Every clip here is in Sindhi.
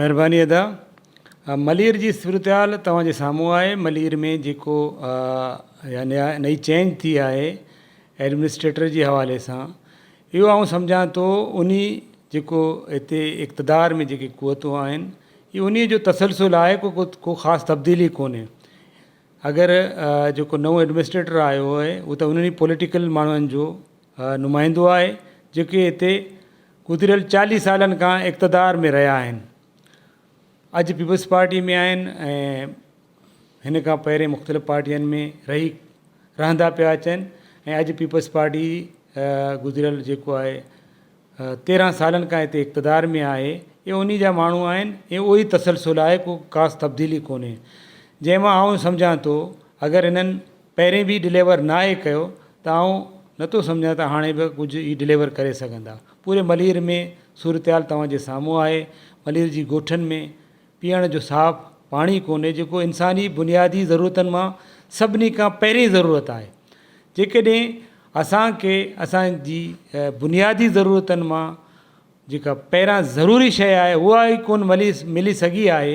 مھرباني ادا ملير جي صورتحال توهان جي سامهون آهي ملير ۾ جيڪو نئي چينج ٿي آهي ايڊمنسٽريٽر جي حوالي سان اهو آئون سمجهان ٿو انهي جيڪو هتي اقتدار ۾ جيڪي قوتون آهن اهي انهي جو تسلسل آهي ڪو ڪو خاص تبديلي ڪونهي اگر جيڪو نئون ايڊمنسٽريٽر آيو آهي هو ته انهي پوليٽيڪل ماڻهن جو نمائندو آهي جيڪي هتي گذريل چاليهه سالن کان اقتدار ۾ رهيا آهن اڄ پيپلز پارٽي ۾ آهن ۽ هن کان پهرين مختلف پارٽين ۾ رهي رهندا پيا اچن ۽ اڄ پيپلز پارٽي گذريل جيڪو آهي تيرهن سالن کان هتي اقتدار ۾ آهي اهي انهي جا ماڻهو آهن ۽ اهو ئي تسلسل آهي ڪو خاص تبديلي ڪونهي جنهن مان آئون سمجهان ٿو اگر هنن پهرين به ڊليور ناهي ڪيو ته آئون نه ٿو سمجهان ته هاڻي به ڪجهه هي ڊليور ڪري سگهندا. پوري ملير ۾ صورتحال توهان جي سامهون آهي. ملير جي ڳوٺن ۾ پيئڻ جو صاف پاڻي ڪونهي جيڪو انساني بنيادي ضرورتن مان سڀني کان پهرين ضرورت آهي. جيڪڏهن اسان کي اسان جي بنيادي ضرورتن مان جيڪا پهران ضروري شيء آهي اها ئي ڪونه ملي سگهي آهي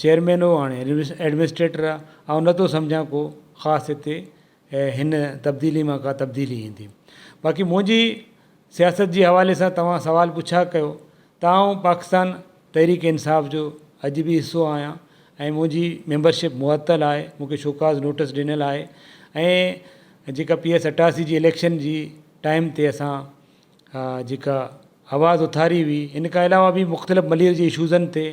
چيئرمين هو هاڻي ايڊمنسٽريٽر آ آئون نٿو سمجهان ڪو خاص هتي هن تبديلي مان ڪا تبديلي ايندي باقي منهنجي سياست جي حوالي سان توهان سوال پڇا ڪيو ته آئون پاڪستان تحريڪ انصاف جو اڄ به حصو آهيان ۽ منهنجي ميمبرشپ معطل آهي مونکي شوڪاز نوٽس ڏنل آهي ۽ جيڪا پي ايس اٽاسي جي اليڪشن جي ٽائيم تي اسان جيڪا آواز اٿاري هئي ان کان علاوه به مختلف ملير جي اشوزن تي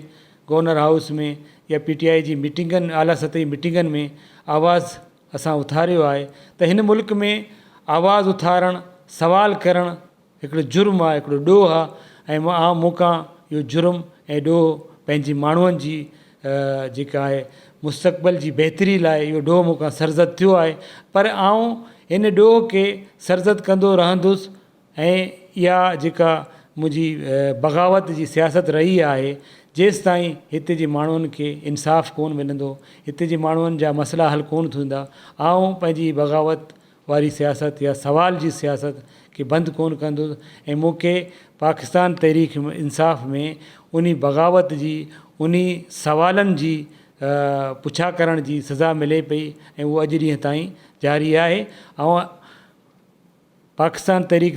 گورنر هائوس ۾ يا پي ٽي آئي جي ميٽنگن اعليٰ سطح جي ميٽنگن ۾ آواز اسان اٿاريو آهي ته هن ملڪ ۾ آواز اٿارڻ سوال ڪرڻ هڪڙو جرم آهي هڪڙو ڏوهه آهي ۽ مون کان اهو جرم ۽ ڏوهه پنهنجي ماڻهن جي جيڪا آهي مستقبل جي بهتري لاء اهو ڏوهه مون کان سرزد ٿيو آهي پر آئون ان ڏوهه کي سرزد ڪندو رهندس ۽ اها جيڪا منهنجي بغاوت جي سياست رهي آهي جيستائين هتي جي ماڻهن کي انصاف ڪون ملندو هتي جي ماڻهن جا مسئلا حل ڪون ٿيندا آئون پنهنجي بغاوت واري سياست يا سوال جي سياست کي بند ڪونه ڪندس ۽ مون کي پاڪستان تحريڪ انصاف ۾ انهي بغاوت جي انهي سوالن جي پڇا ڪرڻ جي سزا ملي پئي ۽ اهو اڄ ڏينهن تائين جاري آهي آئون پاڪستان تحريڪ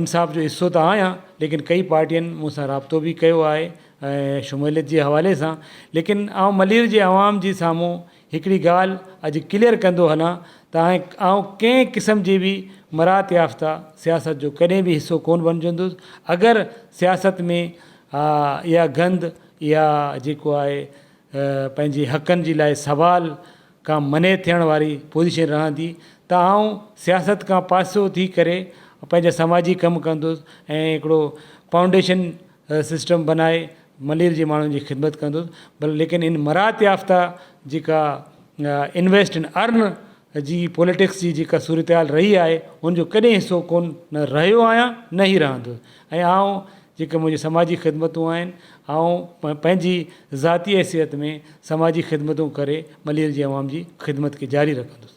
انصاف جو حصو ته آهيان ليڪن ڪئي پارٽين مون سان رابطو به ڪيو آهي ۽ شموليت جي حوالي سان ليڪن آئون ملير جي عوام جي سامهون هڪڙي ڳالهه اڄ ڪليئر ڪندو هلان ته آئون ڪنهن قسم جي به مراعت يافته سياست جو ڪڏهن به حصو ڪونه بڻجندس اگر سياست ۾ اها گند اها جيڪو آهي پنهنجي حقن جي لاء سوال کان منع ٿيڻ واري پوزيشن رهندي ته آئون سياست کان پاسو ٿي ڪري پنهنجا سماجي ڪم ڪندس ۽ هڪڙو فائونڊيشن سسٽم بنائي ملير جي ماڻهن جي خدمت ڪندس بل ليڪن ان مراعت يافته جيڪا انويسٽ ان ارن جي پوليٽڪس جي جيڪا صورتحال رهي آهي ان جو ڪڏهن حصو ڪون نه رهيو آهيان نه هي رهندس ۽ آئون جيڪي منهنجي سماجي خدمتون آهن آئون پنهنجي ذاتي حيثيت ۾ سماجي خدمتون ڪري ملير جي عوام جي خدمت کي جاري رکندس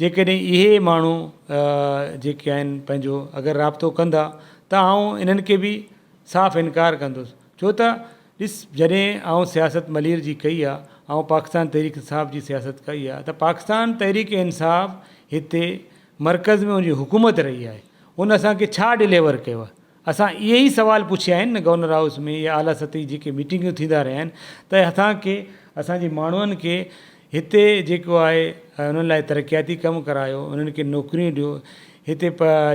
جيڪڏهن اهي ماڻهو جيڪي آهن پنهنجو اگر رابطو ڪندا ته آئون انهن کي به صاف انڪار ڪندس ڇو ته ڏس جڏهن آئون سياست ملير جي ڪئي آ آئون پاڪستان تحريڪ انصاف جي سياست ڪئي آ ته پاڪستان تحريڪ انصاف هتي مرڪز ۾ ان جي حڪومت رهي آهي ان اسان کي ڇا ڊليور ڪيو آ اسان اهي ئي سوال پڇيا آهن نه گورنر هائوس ۾ يا اعليٰ سطح جي جيڪي ميٽنگون ٿيندا رهيا آهن ته اسان کي اسان جي ماڻهن کي هتي جيڪو آهي انهن لاء ترقياتي ڪم ڪرايو انهن کي نوڪريون ڏيو هتي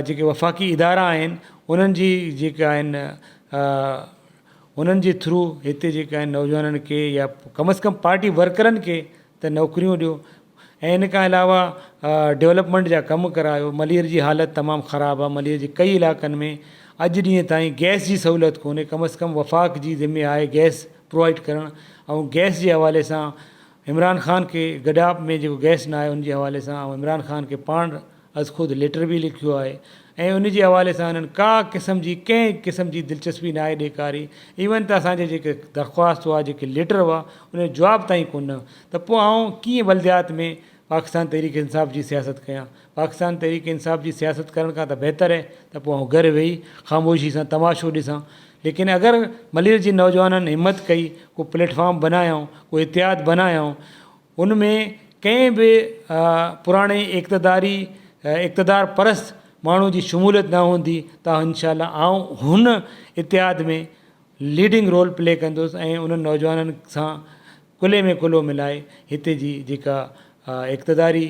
جيڪي وفاقي ادارا آهن انهن جي جيڪي آهن انهن جي ٿرو هتي جيڪي آهن نوجوانن کي يا ڪم از ڪم پارٽي ورڪرن کي ته نوڪريون ڏيو ۽ ان کان علاوه ڊولپمينٽ جا ڪم ڪرايو ملير جي حالت تمام خراب آ ملير جي ڪئي علائقن ۾ اڄ ڏينهن تائين گئس جي سهولت ڪونهي ڪم از ڪم وفاق جي ذمي آهي گئس پروائيڊ ڪرڻ آئون گئس جي حوالي سان عمران خان کي گڏاپ ۾ جيڪو گئس نه آيو ان جي حوالي سان آئون عمران خان کي پاڻ از خود ليٽر به لکيو آهي ۽ ان جي حوالي سان هنن ڪا قسم جي ڪنهن قسم جي دلچسپي ناهي ڏيکاري ايون ته اسان جي جيڪي درخواست هئا جيڪي ليٽر هئا ان جو جواب تائين ڪونه ڏنو ته پوء آئون ڪيئن بلديات ۾ پاڪستان تحريڪ انصاف جي سياست ڪيان پاڪستان تحريڪ انصاف جي سياست ڪرڻ کان ته بهتر هي ته پوء آئون گهر ويهي خاموشي سان تماشو ڏسان ليڪن اگر ملير جي نوجوانن همت ڪئي ڪو پليٽ فارم بنايائون ڪو اتحاد بنايائون ان ۾ ڪنهن به پراڻي اقتداري اقتدار پرست ماڻهو جي شموليت نه هوندي ته انشاء الله آئون هن اتحاد ۾ ليڊنگ رول پلي ڪندس ۽ انهن نوجوانن سان ڪلهي ۾ ڪلهو ملائي هتي جي جيڪا اقتداري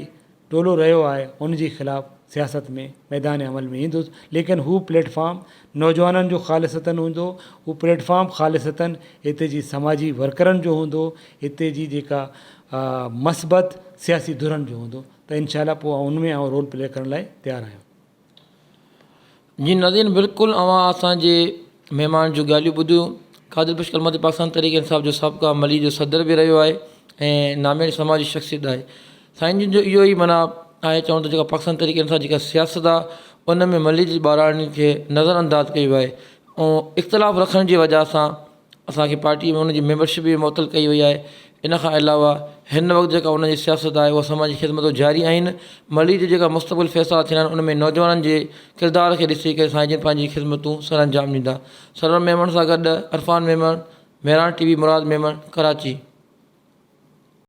ٽولو رهيو آهي ان جي خلاف سياست ۾ ميدان عمل ۾ ايندس ليڪن هو پليٽ فارم نوجوانن جو خالصتاً هوندو هو پليٽ فارم خالصتاً هتي جي سماجي ورڪرن جو هوندو هتي جي جيڪا مثبت سياسي ڌرن جو هوندو ته انشاء الله پوء ان ۾ آئون رول پلي ڪرڻ لاء تيار آهيان. جي ناظرين بلڪل اوهان اسان جي مهمان جون ڳالهيون ٻڌيون قادر بخش ڪلماتي پاڪستان تحريڪ انصاف جو سابقا ملي جو صدر به رهيو آهي ۽ نامياري سماجي شخصيت آهي سائين جن جو اهو ئي معنيٰ آهي چوڻ ته جيڪا پاڪستان تحريڪ انصاف جيڪا سياست آهي ان ۾ ملي جي ٻاراڻي کي نظر انداز ڪيو آهي ۽ اختلاف رکڻ جي وجهه سان اسان کي پارٽيء ۾ ان جي ميمبرشپ به معطل ڪئي وئي آهي. ان کان علاوه هن وقت جيڪا ان جي سياست آهي اها سماجي خدمتون جاري آهن. ملير جي جيڪا مستقبل فيصلا ٿيندا آهن ان ۾ نوجوانن جي ڪردار کي ڏسي ڪري سائين جن پنهنجي خدمتون سرانجام ڏيندا. سرور ميمڻ سان گڏ عرفان ميمڻ، مهراڻ ٽي وي مراد ميمڻ، ڪراچي.